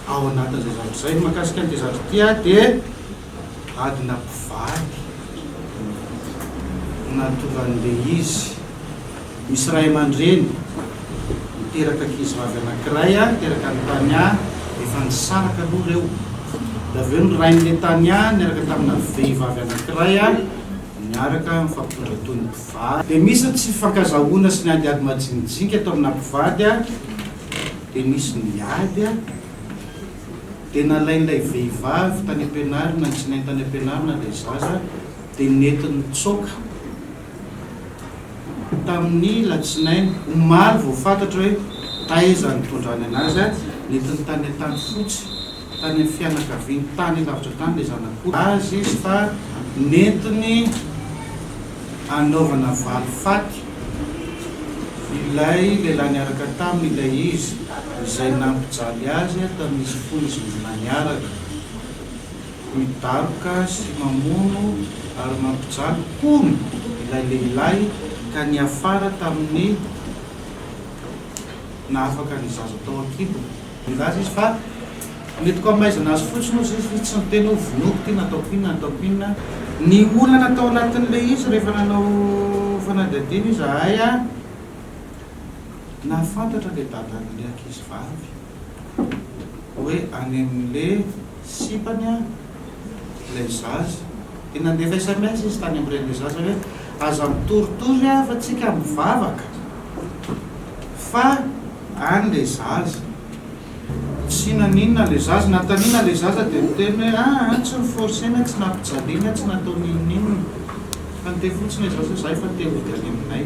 Ao anatin'izay zavatra izay, ny mahakasika an'ity zavatra ity ary dia adina mpivady no nahatovan'ilay izy. Misy ray aman-dreny niteraka ankizivavy anankiray, niteraka an'i Tania, efa nisaraka aloha ireo. Dia avy eo ny rain'ilay Tania niaraka tamina vehivavy anankiray niaraka nifampitondra toy ny mpivady. Va. Dia misy ny tsy fifankazahoana sy ny ady ady majinijinika tao amina mpivady a, dia nisy ny ady a, dia nalain'ilay vehivavy tany am-pianarana ny tsinainy tany am-pianarana ilay zaza dia nety nitsoaka tamin'ny latsinainy omaly vao fantatra hoe taiza nitondrany anazy a, nety nitanetany fotsy. tany amin'ny fianakaviany tany lavitra tany ilay zanak'ondry azy izy fa nentiny hanaovana valifaty ilay lehilahy niaraka taminy ilay izy izay nampijaly azy tamin'izy fony izy mbola niaraka. Midaroka sy mamono ary mampijaly hono ilay lehilahy ka niafara tamin'ny naha afaka ny zaza tao an-kibony. Nilaza izy fa, Nentiko hamaizana azy fotsiny hozy izy, tsy niteny hoe vonoiko ity na ataoko inona na ataoko inona. Ny olana tao anatin'ilay izy rehefa nanao fanadihadiana izahay, nahafantatra ilay dadan'ilay ankizivavy hoe any amin'ilay. sipany an ilay zaza dia nandefa sms izy tany amreny ilay zaza hoe aza mitoritory an fa tsika mivavaka fa any ilay zaza tsy naninona ilay zaza natanina ilay zaza dia niteny hoe ah, ah tsy niforcena tsy nampijaliana tsy natao ninoninona fa niteny fotsiny ilay zaza za efa te hody any aminay